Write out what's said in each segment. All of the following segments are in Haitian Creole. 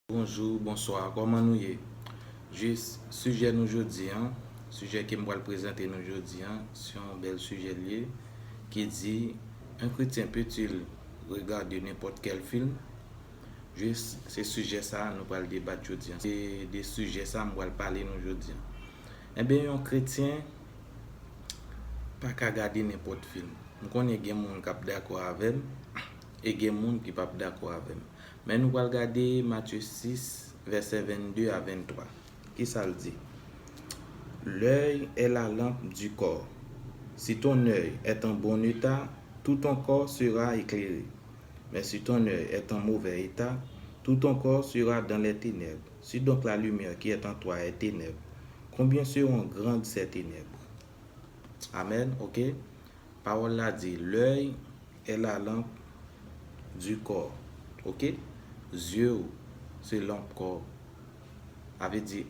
Bonjour bonsoir koman nou ye jis sijè nou jodi an sijè kem pral prezante nou jodi an se yon bèl sijè li ye ki di un chretien peut-il regarder n'importe quel film jis se sijè sa nou pral debat jodi an se de sijè sa m pral pale nou jodi an enben yon chretien pa ka gade nenpòt film. M konnen gen moun kap dakò avèm e gen moun ki pap dakò avèm. Men nou pral gade Matye 6 vèsè 22 a 23. Kisa l di? L'oeil est la lampe du corps. Si ton oeil est en bon état, tout ton corps sera éclairé. Mais si ton oeil est en mauvais état, tout ton corps sera dans les ténèbres. Si donc la lumière qui est en toi est ténèbre, combien seront grandes ces ténèbres? Amen ok pawòl la di l'oeil est la lampe du corps ok zye ou se lanp kò ou sa vle di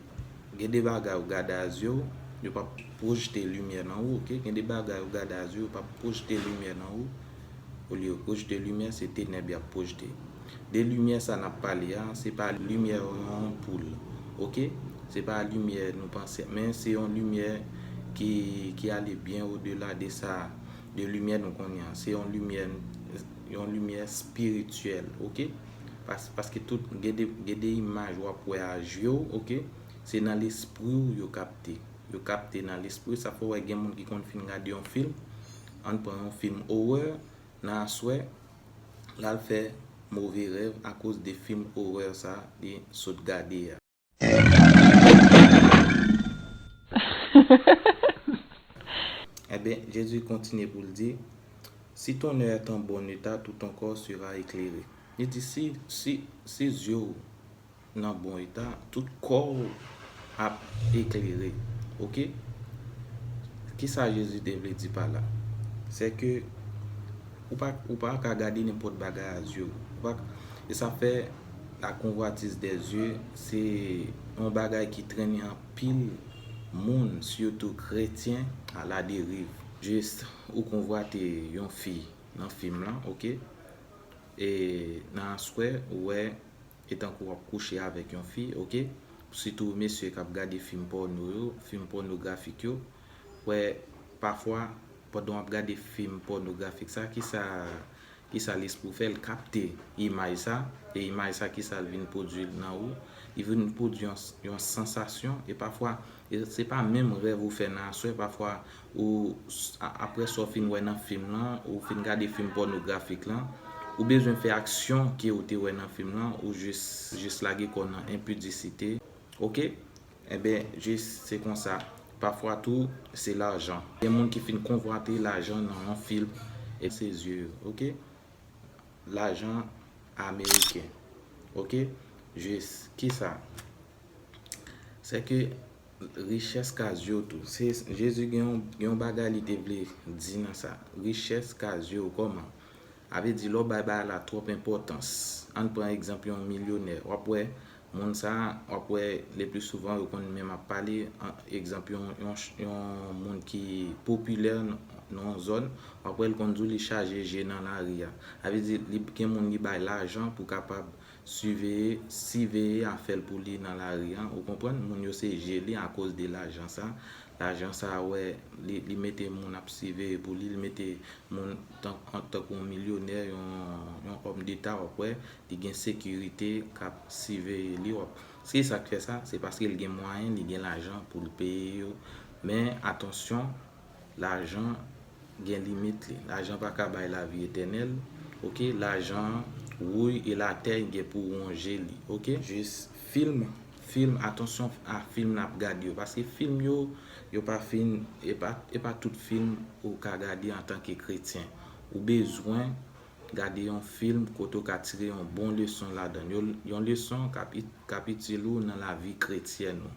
gen de bagay ou gade a zye ou yo pap projte limyè nan ou ok gen de bagay ou gade a zye ou yo pap projte limyè nan ou olye rouj de limyè se tenèb yap pwojte de limyè sa nap pale a se pa limyè yon anpoul ok se pa limyè nou panse men se yon limyè ki ale byen o de la de sa de limyè nou konnen an se yon limyè yon limyè spirityèl ok paske tout gen de imaj wap wè a je w ok se nan lespri w yo kapte yo kapte nan lespri w sa fè w wè gen moun ki konn fin gade yon film Ann pran yon film horreur nan aswè lal fè move rèv akoz de film horreur sa li sot gade a. Enben, Jezi kontinye pou l di, Si ton oeil est en bon état, tout ton corps sera éclairé. Li di, si, si, si zye w. nan bon eta tout kòw ap eklere ok kisa jezi te vle di pa la se ke ou pa ka gade nenpòt bagay a zye ou e sa fè la konvwatis de zye se yon bagay ki trennen anpil moun sitou kretyen a la deriv jis ou konvwate yon fi nan fim lan ok e nan aswè ou wè E tankou wap kouche avèk yon fi ok sitou mesye kap gade fim pòno yo fim pònografik yo wè pafwa pandan wap gade fim pònografik sa kisa kisa lespri w fè l kapte imaj sa e imaj sa kisa l vin pwodwi nan ou li vin pwodwi yon sansasyon e pafwa E se pa menm rèv ou fè nan aswè pafwa ou aprè sa w fin wè nan fim lan, ou fin gade fim pònografik lan, ou bezwen fè aksyon ke ou te wè nan fim lan, ou jis jis lage kò w nan enpidisite ok enben jis se konsa pafwa tou se lajan gen moun ki fin konvwate lajan nan yon film e se zye yo ok lajan ameriken ok jis kisa. Se ke richès ka zyew tou. Se Jezi gen yon bagay li te vle di nan sa. Richès ka zyew koman. A vle di lè w bay bagay la twòp enpòtans. Ann pran egzanp yon milyonè. Wap wè moun sa, wap wè le pli souvan yo konn menm ap pale. Egzanp yon moun ki popilè nan yon zòn. Wap wè l konn di w li chaje je nan lari a. A vle di gen moun li bay lajan pou kapab Siveye, siveye a fèl pou li nan lari an, ou konprann, moun yo se je li akoz de lajan sa, lajan sa wè li li mete moun ap siveye pou li, li mete moun tank tankou yon milyonè, yon yon òm deta wap wè, li gen sekirite kap siveye li wap, se sak fè sa, se paske li gen mwayen, li gen lajan poul peye yo, men atansyon. Lajan gen limit li. Lajan pa ka bay lavi etènèl, ok. Lajan wouy e latèy gen pou wonje li, ok. Jis film, film, atansyon a film nap gad yo. Paske film yo, yo pa fin, e pa, e pa tout film ou ka gade antanke kretyen. Ou bezwen gade yon film kote ou ka tire yon bon leson ladan l. Yon leson kap, kap itil ou nan lavi kretyèn ou.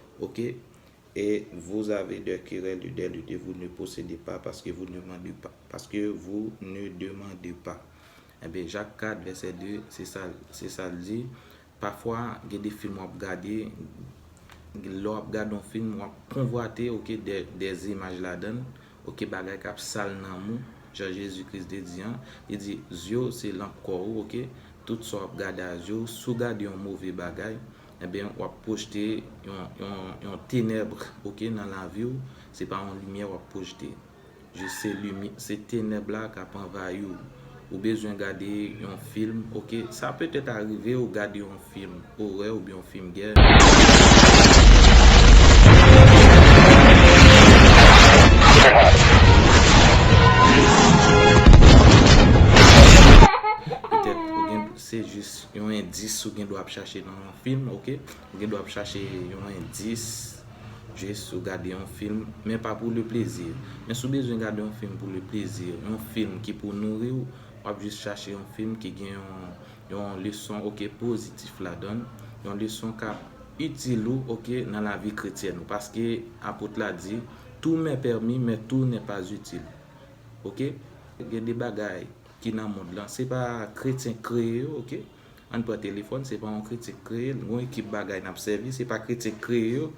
ok e vous avez de querelle de lu de vous ne posede pas paske vous ne mande pas paske vous ne demande pas enben Jacques 4 verset 2 se sa se sa l di pafwa gen de film wap gade lè wap gade yon film wap konvwate ok de de imaj ladann ok bagay kap sal nanm ou jan Jezi Kris te di an li di zye w se lanp kò ou ok tout sa wap gade a zye w si w gade yon move bagay Ebyen wap pwojte yon tenèbre ok nan laviw se pa yon limyè wap pwojte jis se limyè se tenèb la kap anvayiw ou bezwen gade yon film ok sa petèt arivew gade yon film orè oubyen yon film gè petèt ou gen Se jis yon endis ou gen dwa ap chache nan yon film ok. Ou gen dwa ap chache yon endis jis ou gade yon film men pa pou le plaisir. Men si w bezwen gade yon film pou le plaisir, yon film ki pou nouri w, w ap jis chache yon film ki gen yon leson ok pozitif ladan l, yon leson k ap itil ou ok nan lavi kretyèn ou. Paske Apot la di, Tout m'est permis, mais tout n'est pas utile. Ok. Gen de bagay. ki nan mond lan se pa kretyen k kreye yo ok ann pran telefòn se pa yon kretyen k kreye l gon ekip bagay n ap sèvi se pa kretyen k kreye yo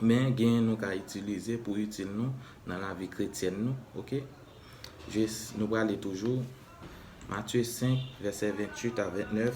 men genyen nou ka itilize pou itil nou nan lavi kretyèn nou ok je nou prale toujou Matye 5 vèsè 28 a 29.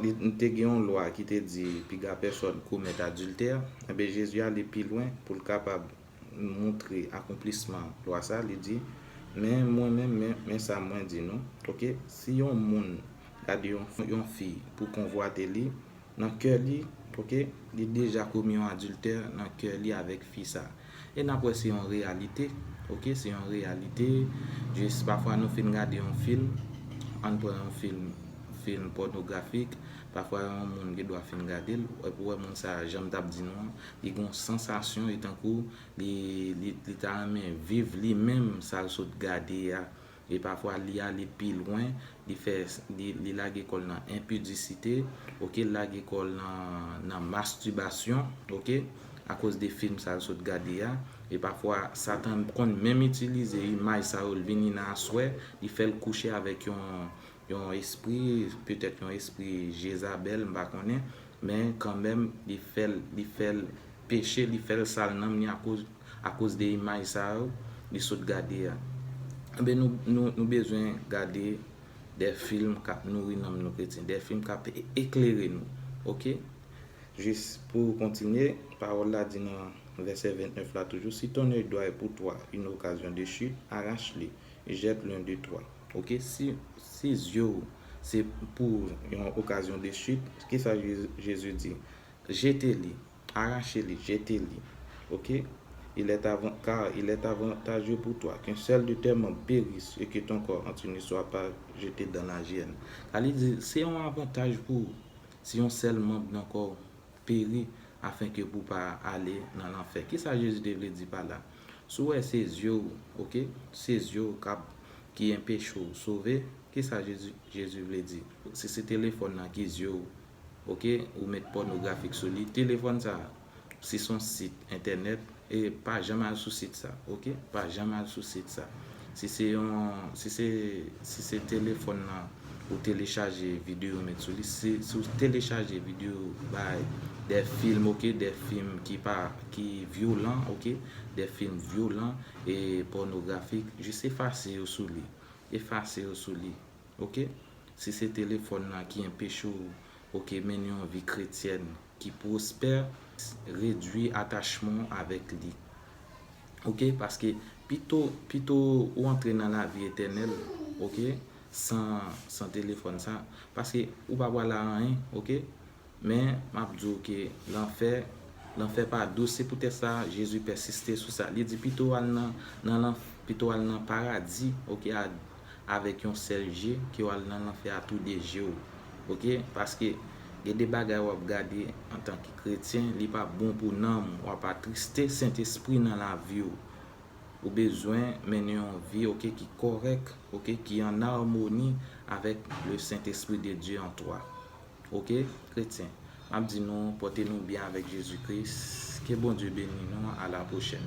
Li te gen yon lwa ki te di piga pèsòn komèt adiltè. Enben, Jezi ale pi lwen pou l kapab montre akonplisman lwa sa a, li di, Men mwen menm, men sa mwen di nou, oke, si yon moun gade yon fi pou konvwate li, Nan kè li ok li deja komi yon adiltè nan kè li avèk fi sa e nap wè se yon reyalite ok se yon reyalite jis pafwa nou fin gade yon film ann pran yon film film pònografik pafwa yon moun gen dwa fin gadel epi ou wè moun sa janm tap di nou an li gen yon sansasyon e tankou li li ta renmen viv li menm sal sot gade a. E pafwa li ale pi lwen, li fè, li lage kò l nan enpidisite, ok, l lage kò l nan, nan mastibasyon, ok, akoz de film sa l sot gade a. E pafwa Satan konn menm itilize imaj sa yo, l vini nan aswè, li fè l kouche avèk yon, Yon espri, petèt yon espri Jezabèl, m pa konnen, men kanmenm li fè l, li fè l peche, li fè l sal nanm li akoz, akoz de imaj sa yo li sot gade a. Enben nou, nou, nou bezwen gade de film k ap nouri nanm nou kretyen, de film k ap eklere nou. Oke? Jis pou kontinye, Pawòl la di nan vèsè 29 la toujou, Si ton oeil droit est pour toi une occasion de chute, arrache-le, jette l'un d'eux trois. Ok si si zye w se pou yon okazyon de chute kisa Jezi di jete li arache li jete li ok il est avan car il est avantageux pour toi qu'un seul de tes membres périsse et que ton corps entier ne soit pas jeté dans la Gienne sa li di se yon avantaj pou ou si yon sèl manb nan kò w peri afin ke pou pa ale nan lanfè kisa Jezi te vle di pa la Si w wè se zye w ok, se zye w kap ki enpeche w sove, kisa Jezi Jezi vle di? Si se telefòn nan ki zye w ok, ou met pònografik sou li, telefòn sa a, si son sit entènèt, e pa janm al sou sit sa ok, pa janm al sou sit sa. Si se yon, si se, si se telefòn nan. Ou telechaje video met sou li. Si ou telechaje video bay de film ok, de film ki pa ki vyolan ok, de film vyolan e pornografik, jis efase yo sou li. Efase yo sou li. Ok. Si se telefon nan ki enpeche ou ok mennen yon vi kretyèn ki pwospè redwi atachman w avèk li ok paske pito pito ou antre nan lavi etènèl ok san san telefòn sa paske ou pa pral a anyen ok men map di w ke lanfè lanfè pa dous se poutèt sa Jezi pèsiste sou sa li di pito al nan nan lanfè pito al nan paradi ok a avèk yon sèl je ke wal nan lanfè a tou 2 jew ok paske gen de bagay wap gade antanke kretyen li pa bon pou nanm ou wap atriste sentespri nan laviw ou bezwen mennen yon vi ok ki kòrèk ok ki an armoni avèk le sentespri de Dye an toi. Ok kretyen map di nou pòte nou byen avèk Jezi Kris ke Bondye beni nou a la pwochèn.